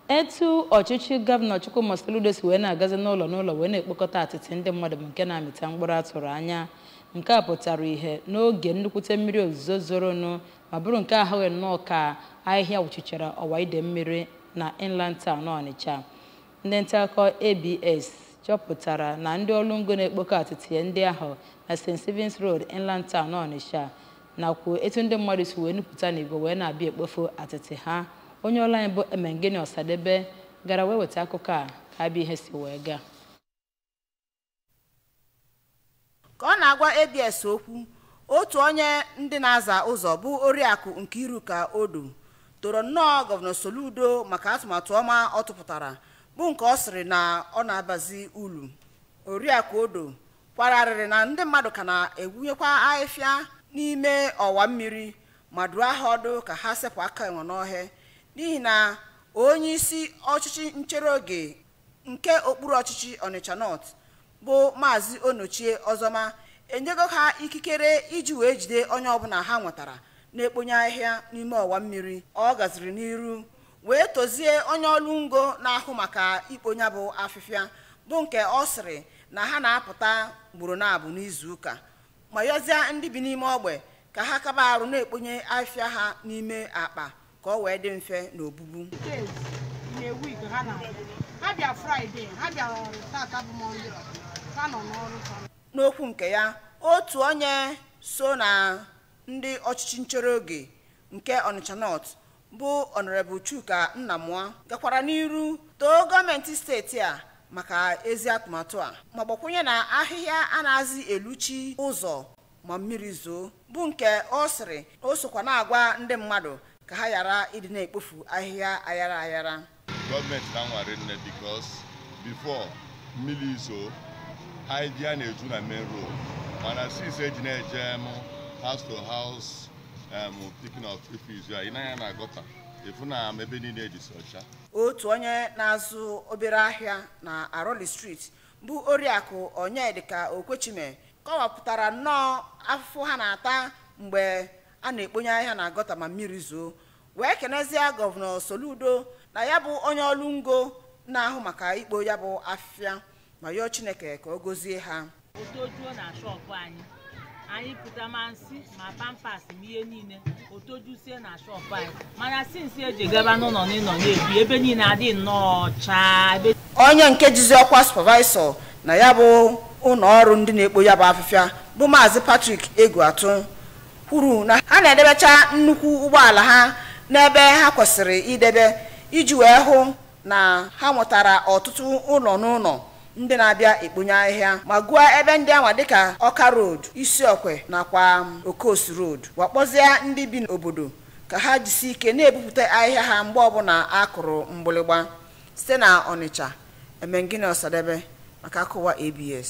etu ọchịchị gọvanọ Chukwuma Soludo si wee na-agazi n'ụlọ n'ụlọ wee na-ekpokọta atịtị ndị mmadụ bụ nke na-amịta mkpụrụ a tụrụ anya nke a pụtara ihe n'oge nnukwute mmiri ozuzo zoronụ ma bụrụ nke a hụghị nnọọ ka ahịhịa wụchichara ọwa ide mmiri na inland town Ọnịcha ndị ntaakụkọ ABS chọpụtara na ndị ọrụ ngo na-ekpokọ atịtị ndị ahụ na St. Stephen's Road inland town Ọnịcha nakwa etu ndị mmadụ si wee nupụta n'igwe wee na-abịa ekpofu atịtị ha onye ọrụ anyị bụ Emengịnị Ọsadebe gara wee weta akụkọ akabịa ihe si wee gaa ka ọ na-agwa abs okwu otu onye ndị na-aza ụzọ bụ oriakụ Nkiruka Odo toro nnọọ gọvanọ Soludo maka atụmatụ ọma ọ tụpụtara bụ nke ọ sịrị na ọ na-abazi ulu oriakụ Odo kwara arịrị na ndị mmadụ ka na-egwunyekwa ahịhịa n'ime ọwa mmiri ma duo ha ọdụ ka ha sepụ aka enwe n'ofe n'ihi na onye isi ọchịchị nchere oge nke okpuru ọchịchị Ọnịcha North bụ maazị Onochie Ọzọma enyego ha ikikere iji wee jide onye ọbụla ha nwetara na-ekponye ahịhịa n'ime ọwa mmiri ọ gaziri n'iru wee tozie onye ọrụ ngo na-ahụ maka ikpo ya bụ afịfịa bụ nke ọ sịrị na ha na-apụta ugboro naabọ n'izu ụka ma yọzie ndị bi n'ime ogbe ka ha kaba arụ na-ekponye afịfịa ha n'ime akpa ka o wee dị mfe n'obubu n'okwu nke ya otu onye so na ndị ọchịchị nchere oge nke Ọnịcha North bụ Honorable Chuka Nnamụa gakwara n'iru too gọọmenti steeti a maka ezi atụmatụ a ma gbakwunye na ahịhịa anaghịzi eluchi ụzọ ma mmiri zoo bụ nke ọ sịrị o sokwa na-agwa ndị mmadụ ka ha ghara ịdị na-ekpofu ahịhịa ayara ayara gọọmenti na-anwa rinne because before mmiri zoo ahịhịa na-eju na main road mana since e ji na-eje em house to house em picking of refuse ya ị nee anya na gọta ị fụ na em ebe niile adịsị ọcha otu onye na-azụ obere ahịa na Aroli Street bụ oriakụ Onyedịka Okwechime kọwapụtara nnọọ afụfụ ha na-ata mgbe a na-ekponye ahịhịa na gọta ma mmiri zoo wee kenezie gọvanọ Soludo na ya bụ onye ọrụ ngo na-ahụ maka ikpo ya bụ afịfịa ma yọọ Chineke ka ọ gọzie ha o tojuo na shọpụ anyị anyị pụta ma nsị ma pampers ma ihe niile o tojusie na shọpụ anyị mana since e ji gaba n'ụlọ n'ụlọ na-ebu ebe niile adị nnọọ ọcha ebe onye nke jizi ọkwa supervisor na ya bụ ụlọ ọrụ ndị na-ekpo ya bụ afịfịa bụ maazị Patrick Egwuatu kwuru na ha na-edebecha nnukwu ụgbọala ha n'ebe ha kwesịrị idebe iji wee hụ na ha nwetara ọtụtụ ụlọ n'ụlọ ndị na-abịa ekponye ahịhịa ma gụọ ebe ndị anwa dịka ọka road isiokwe nakwa okosi road wee kpọzie ndị bi n'obodo ka ha jisi ike na-ebupụta ahịhịa ha mgbe ọbụla a kụrụ mgbịlịgba site na ọnịcha emengini ọsadebe maka akụkọ ụwa abs